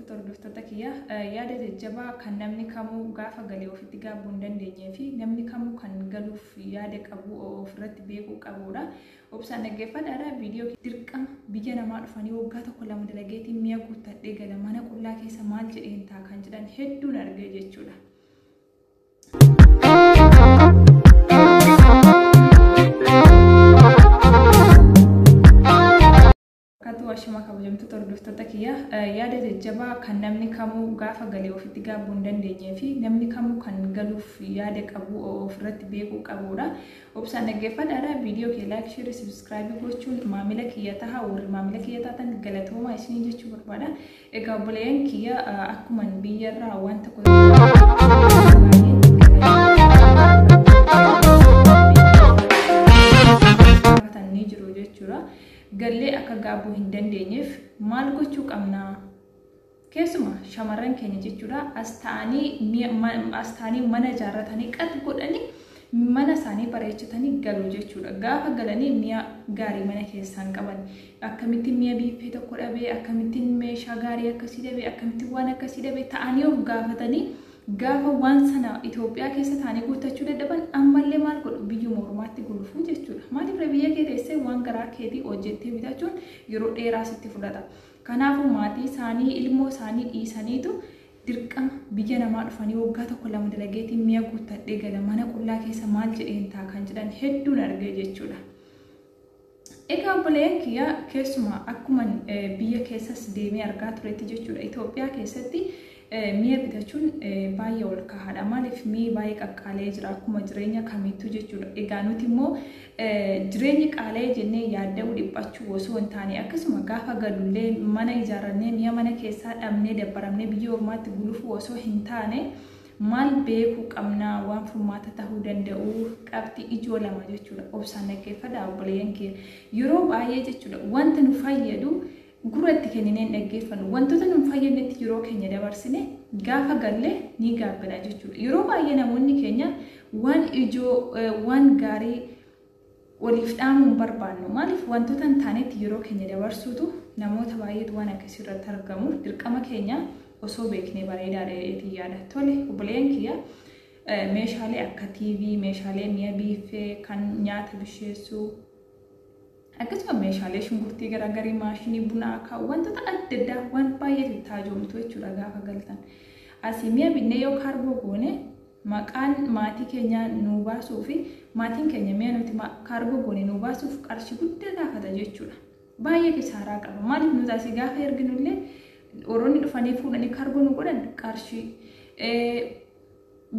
Hordoftoota kiyya yaada jajjabaa kan namni kamuu gaafa galee ofitti gaabbu hin dandeenyee fi namni kamuu kan galuuf yaada qabu ofirratti beekuu qabuudha. Obsaan dhaggeeffadhaadha viidiyoo kiyya. Dirqama biyya namaa dhufanii waggaa tokko lama dalageetiin mi'a guuttadhee gala mana qullaa keessa maal jedheen ta'a kan jedhan hedduun argee jechuudha. Akkatu ashama kabajamtoota hordoftoota kiyya yaada jajjabaa kan namni kamuu gaafa galee ofitti gaabbu hin dandeenyee fi namni kamuu kan galuuf yaada qabu ofirratti beekuu qabuudha. Obsaan dhaggeeffadhaadha viidiyoo kee laayik sheerii subscribe gochuun maamila kiyya taha warri maamila kiyya taatan galatoomaa isinii jechuu barbaada. Egaa obboleeyyan kiyya akkuman biyyarraa waan tokko gallee akka gaabbu hin dandeenyeef maal gochuu qabna? Keessuma shamarran keenya jechuudha as taa'anii mana ijaarratanii qat godhanii mana isaanii bareechatanii galu jechuudha. Gaafa galanii mi'a gaarii mana keessaan qaban akkamittiin mi'a biiffee tokko dhabee akkamittiin meeshaa gaarii akkasii dhabee akkamittiin waan akkasii dhabee ta'anii of gaafatanii Gaafa waan sana Itoophiyaa keessa taanii guuttachuu dadhaban ammallee maal godhu biyyuma ormaatti gulufuu jechuudha. Maaliif ree biyya kee teessee waan garaa keetii hojjettee bitachuun yeroo dheeraa sitti fudhata. Kanaafuu maatii isaanii ilmoo isaanii dhiisaniitu dirqama biyya namaa dhufanii waggaa tokko lama dalageetiin mi'a guuttadhee gala mana qullaa keessa maal jedheen ta'a kan jedhan hedduun argee jechuudha. Egaa obboleeyyan kiyya keessumaa akkuman biyya keessas deemee argaa turetti jechuudha Itoophiyaa keessatti mi'a bitachuun baay'ee ol kahaadha. Maaliif mi'i baay'ee qaqqaalee jira akkuma jireenya kamiittuu jechuudha. Egaa nuti immoo jireenyi qaalee jennee yaadda'uu dhiphachuu osoo hin taane akkasuma gaafa galullee mana ijaarrannee mi'a mana keessaa dhabnee dabbaramnee biyya ormaatti gulufuu osoo hin taane Maal beekuu qabna? Waan furmaata tahuu danda'u qabxii ijoo lama jechuudha. Obsaan dhaggeeffadhaa obboleeyyan kiyya. Yeroo baay'ee jechuudha wanta nu fayyadu gurra itti kenninee hin dhaggeeffannu. Wantoota nu hin fayyadnetti yeroo keenya dabarsine gaafa galle ni gaabbina jechuudha. Yeroo baay'ee namoonni keenya waan ijoo, waan gaarii waliif dhaamuun barbaannu maaliif wantoota hin taanetti yeroo keenya dabarsuutu namoota baay'eetu waan akkasii irratti argamuuf dirqama keenya osoo beeknee bareedaadha jedheetiin yaada. Tole obboleeyyan kiyya meeshaalee akka TV, meeshaalee mi'a biiffee kan nyaata bisheessuu akkasuma meeshaalee shunkurtii garaagarii maashinii bunaa kaa'u wantoota adda addaa waan baay'eetu itti hajoomtu jechuudha gaafa galtan. Asii mi'a binnee yoo kaarboo goone Maqaan maatii keenyaa nuu baasuu fi maatiin keenya mi'a nuti kaargoo goone nuu baasuuf qarshii guddaa gaafata jechuudha. Baay'ee kisaaraa qaba. Maaliif nuti asii gaafa erginu illee warroonni dhufanii fuudhanii kaargoo nu godhan qarshii.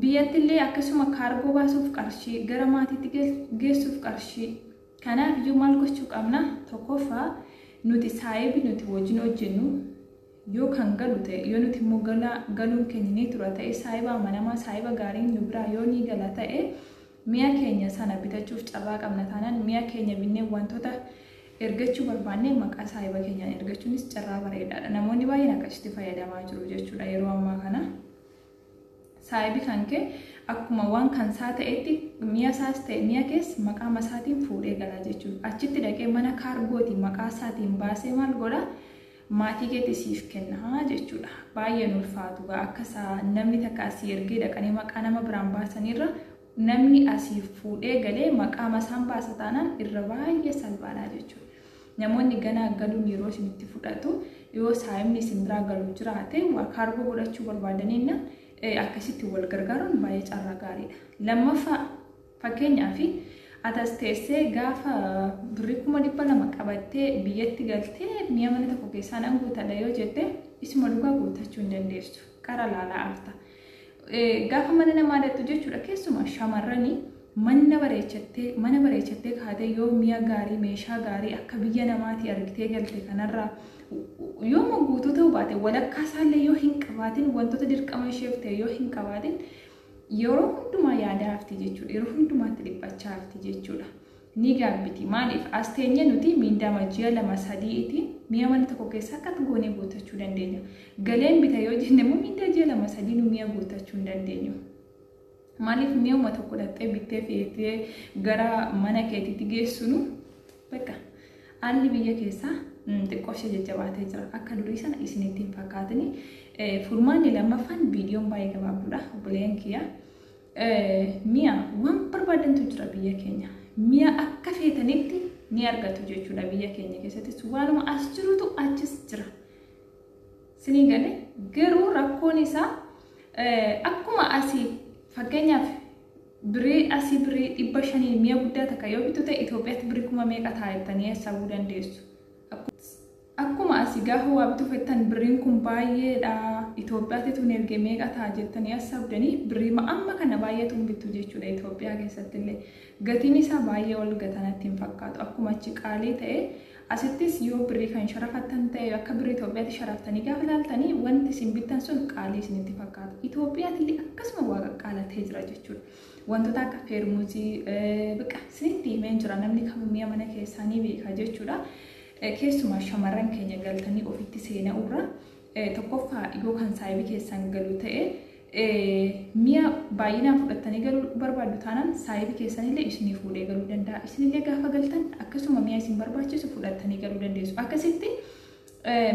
Biyyatti illee akkasuma kaargoo baasuuf qarshii, gara maatiitti geessuuf qarshii. Kanaaf iyyuu maal gochuu qabna? Tokkoffaa nuti saayibii nuti wajjin hojjennu yoo kan galu ta'e, yoo nuti immoo galaa, galuun keenya ni tura ta'e, saahiba amanamaa, saahiba gaariin nu biraa yoo ni gala ta'e, mi'a keenya sana bitachuuf carraa qabna taanaan, mi'a keenya binnee wantoota ergachuu barbaanne maqaa saahiba keenyaan ergachuunis carraa bareedaa dha. Namoonni baay'een akkasitti fayyadamaa jiru jechuu dha yeroo ammaa kana. Saahibi kan kee akkuma waan kan isaa ta'etti mi'a isaas ta'e mi'a kees maqaa masaatiin fuudhee gala jechuudha. Achitti dhaqee mana kaargootiin maqaa isaatiin baasee maal godha? maatii keetti siif kenna jechuudha. Baay'ee hin ulfaatu gaa akka isaa namni takka asii ergee dhaqanii maqaa nama biraan baasaniirra namni asii fuudhee galee maqaa masaan baasa taanaan irra baay'ee salphaadha jechuudha. Namoonni ganaa galuun yeroo isinitti fudhatu yoo saayimni isin biraa galu jiraate waa kaargoo godhachuu barbaadaniinna akkasitti wal gargaaruun baay'ee carraa gaariidha. Lammaffaa Fakkeenyaaf, ati as teessee gaafa birrii kuma dhibba lama qabattee biyyatti galtee mi'a mana tokko keessaa nan guutadha yoo jette isuma dhugaa guuttachuu hin dandeessu. Qara laalaa afta. Gaafa mana namaa dhaqxu jechuudha keessumaa shamarranii manna bareechattee mana bareechattee kaatee yoo mi'a gaarii meeshaa gaarii akka biyya namaatii argitee galte kanarraa yooma guutuu ta'uu baate walakkaa isaallee yoo hin qabaatin wantoota dirqama isheef ta'e yoo hin qabaatin Yeroo hundumaa yaadaa hafti jechuudha. Yeroo hundumaatti dhiphachaa hafti jechuudha. Ni gaabbiti. Maaliif? As teenyee nuti miindaama ji'a lama sadii itiin mi'a mana tokko keessa akkatti goonee guuttachuu dandeenya. Galeen bita yoo jenne immoo miindaa ji'a lama sadii nu mi'a guuttachuu hin dandeenyu. Maaliif mi'uma tokko dhaqxee bittee feetee gara mana keetiitti geessinu Bakka haalli biyya keessaa xiqqoo ishee jajjabaatee jira. Akka durii sana isinitti hin fakkaatini. Furmaanni lammaffaan viidiyoon baay'ee gabaabduudha. Obboleeyyan kiyya mi'a waan barbaadantu jira biyya keenya. Mi'a akka feetanitti ni argatu jechuudha biyya keenya keessattis waanuma as jirutu achis jira. Sinii galee garuu rakkoon isaa akkuma asii fakkeenyaaf Birii asi birii dhibba shaniin miya guddaa takka yoo bittu ta'e Itoophiyatti birii kuma meeqa ta'a jettanii hassabuu dandeessu. Akkuma asi gaafa waa bituu fettan birriin kun baay'eedha Itoophiyaatti tun erge meeqa ta'a jettanii hassabdanii birriima amma kana baay'atuun bittu jechuudha Itoophiyaa keessattillee. Gatiin isaa baay'ee ol gatanatti hin fakkaatu. Akkuma achi qaalii ta'e Asittis yoo birrii kan sharafattan ta'e akka birrii Itoophiyaatti sharaftanii gaafa ilaaltani wanti isin bittan sun qaalii isinitti fakkaata. Itoophiyaatillee akkasuma waa qaqqaalatee jira jechuudha. Wantoota akka feermuuzii biqqa isinitti himeen jira namni kamuu mi'a mana keessaa ni beeka jechuudha. Keessumaa shamarran keenya galtanii ofitti seena'urra Tokkoffaa yoo kan saayibii keessan galu ta'e mi'a baay'inaan fudhattanii galuu barbaaddu taanaan saayibii keessanillee isinii fuudhee galuu danda'a. Isinillee gaafa galtan akkasuma mi'a isin barbaachisu fudhattanii galuu dandeessu. Akkasitti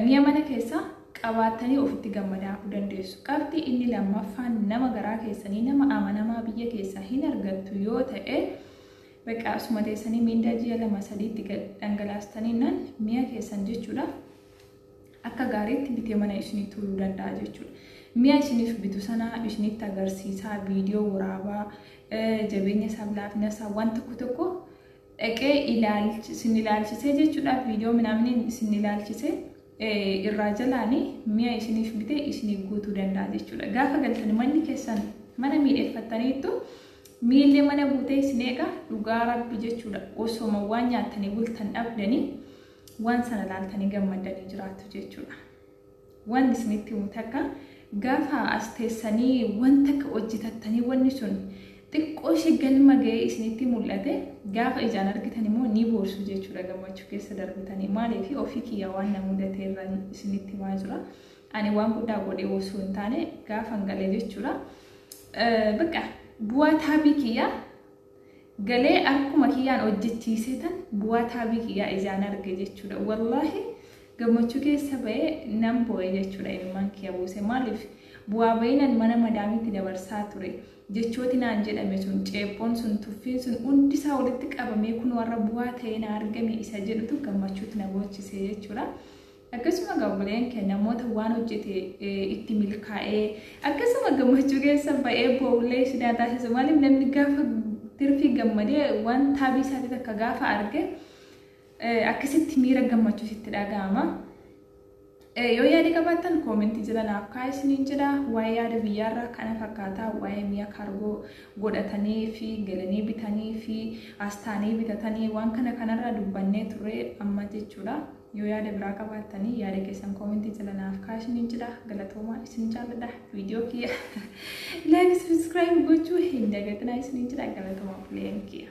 mi'a mana keessaa qabaattanii ofitti gammadaa'uu dandeessu. Qabxii inni lammaffaan nama garaa keessanii nama amanamaa biyya keessaa hin argattu yoo ta'e bakka asuma teessanii miindaa ji'a lama sadiitti dhangalaastanii nan mi'a keessan jechuudha. akka gaariitti bitee mana ishinii tuuluu danda'a jechuudha. Mi'a ishiniif bitu sana ishinitti agarsiisaa, viidiyoo waraabaa, jabeenya isaaf, laafina isaa waan tokko tokko dhaqee isin ilaalchisee jechuudha. Viidiyoo minaaminiin isin ilaalchisee irraa jalaani mi'a ishiniif bite isiniif guutuu danda'a jechuudha. Gaafa galtan manni keessan mana miidheffattaniittu miillee mana guutee isin eega dhugaa rabbi jechuudha. Osoma waan nyaattanii bultan dhabdanii waan sana laaltanii gammaddanii jiraattu jechuudha. Waan isinitti himu takka gaafa as teessanii waan takka hojjetattanii wanni sun xiqqoo ishee galma ga'ee isinitti mul'ate gaafa ijaan argitan immoo ni boorsu jechuudha gammachuu keessa darbitanii maaliif ofii kiyya waan na mudate irra isinitti himaa jira. Ani waan guddaa godhee osoo hin taane gaafa hin galee jechuudha. Bakka bu'aa taabii kiyya galee arkuma kiyyaan hojjechiisee tan bu'aa taabii kiyyaa ijaan arge jechuudha wallaahi gammachuu keessa ba'ee nan boo'e jechuudha imimmaan kiyya buuse maaliif bu'aa ba'inan mana madaamitti dabarsaa ture jechooti naan jedhame sun ceephoon sun tuffiin sun hundisaa walitti qabamee kun warra bu'aa ta'ee na argame isa jedhutu gammachuutti na boochisee jechuudha. Akkasuma egaa obboleen kee namoota waan hojjete itti milkaa'ee akkasuma gammachuu keessa ba'ee boo'ullee si taasisu maaliif namni gaafa tirfii gammadee waan taabii isaatti takka gaafa arge akkasitti miira gammachuu sitti dhaga'ama. Yoo yaada qabaattan koomentii jala naaf kaa'aa isiniin jedha waa'ee yaada biyyaarraa kana fakkaataa waa'ee mi'a kaargoo godhatanii fi galanii bitanii fi astaanii bitatanii waan kana kanarraa dubbannee turre amma jechuudha. Yoo yaada biraa qabaattanii yaada keessan comment jala naaf kaa'aa isiniin jedha. Galatoomaa isin jaalladha. Viidiyoo kiyya like subscribe gochuu hin dagatinaa isiniin jedha. Galatoomaa obboleeyyan kiyya.